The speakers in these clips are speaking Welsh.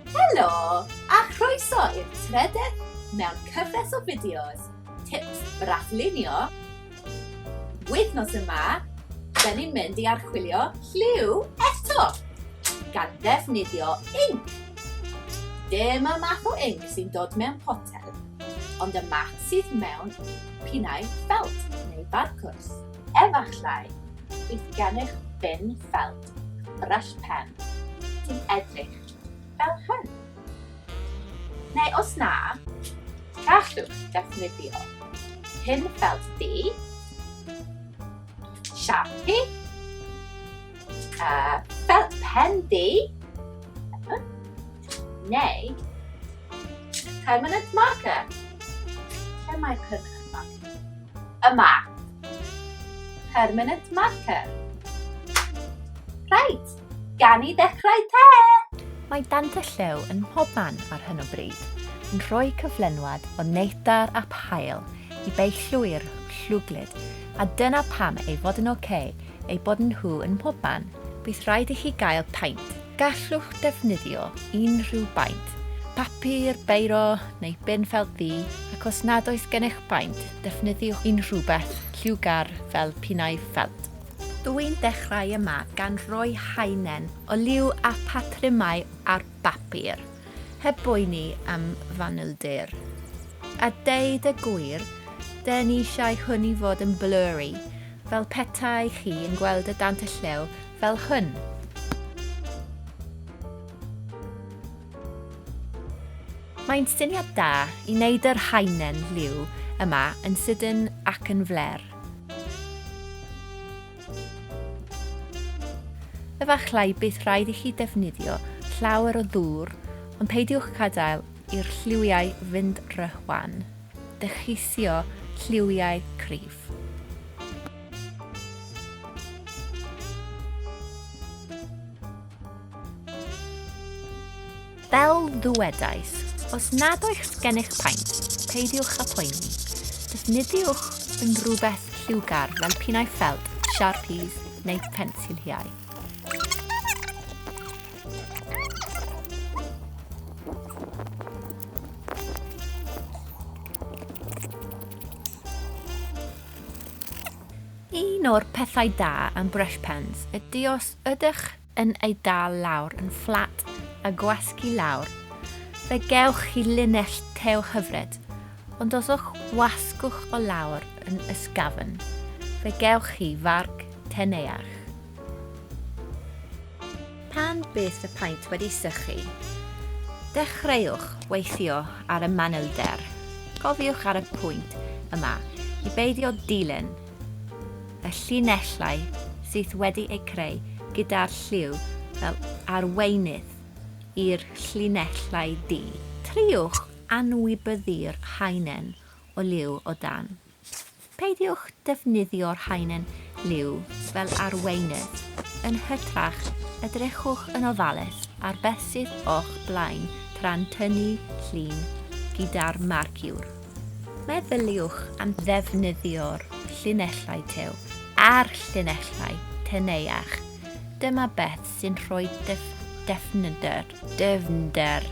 Helo, a chroeso i'r trededd mewn cyfres o fideos tips braflunio. Wythnos yma, da ni'n mynd i archwilio lliw eto, gan ddefnyddio inc. Dyma math o inc sy'n dod mewn potel, ond y math sydd mewn pinau ffelt neu barcwrs. Efallai, bydd gennych bin ffelt brush pen, sy'n edrych fel hyn. Neu os na, gallwch ddefnyddio pin felt di, Sharpie, uh, fel pen di, neu permanent marker. Lle mae permanent marker? Yma. Permanent marker. Rhaid, gan i ddechrau te! Mae dant y llew yn mhob man ar hyn o bryd, yn rhoi cyflenwad o neidar a phael i beillwyr llwglyd, a dyna pam ei fod yn ok ei bod nhw yn mhob man, bydd rhaid i chi gael paent. Gallwch defnyddio unrhyw baent, papur, beiro neu bin felt ddu ac os nad oes gennych baent, defnyddiwch unrhywbeth lliwgar fel pinnau ffelt. Dw i'n dechrau yma gan roi haenen o liw a phatrymau ar bapur, heb boeni am fanylder. A deud y gwir, dyn ni eisiau hwn i fod yn blurry, fel petai chi yn gweld y dant y llew Fel hyn. Mae'n syniad da i wneud yr haenen liw yma yn sydyn ac yn fler. Efallai bydd rhaid i chi defnyddio llawer o ddŵr ond peidiwch gadael i'r lliwiau fynd rhy wan. Decheisio lliwiau cryf. Fel ddwedais, os nad oes gennych paent, peidiwch â phoeni. Defnyddiwch yn rhywbeth lliwgar fel pinnau ffelt, sharpies neu pensiliau. Un o'r pethau da am brush pens ydy os ydych yn ei dal lawr yn fflat a gwasgu lawr, fe gewch chi linell tew hyfryd, ond os yw'ch wasgwch o lawr yn ysgafn, fe gewch chi farc teneuach. Pan bydd y paent wedi sychu, dechreuwch weithio ar y manylder. Cofiwch ar y pwynt yma i beidio dilyn y llinellau sydd wedi eu creu gyda'r lliw fel arweinydd i'r llinellau du. Triwch anwybyddu'r haenen o liw o dan. Peidiwch defnyddio'r haenen liw fel arweinydd, yn hytrach, edrychwch yn ofalus ar beth sydd o'ch blaen tra'n tynnu llun gyda'r marciwr. Meddyliwch am ddefnyddio'r llinellau tew a'r llinellau teneuach, dyma beth sy'n rhoi defnyder, dyfnder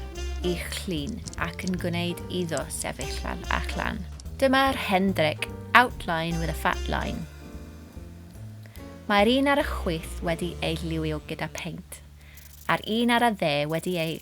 i'ch llun ac yn gwneud iddo sefyll lan a chlan. Dyma'r hendric, outline with a fat line. Mae'r un ar y chwith wedi ei lliwio gyda peint, a'r un ar y dde wedi ei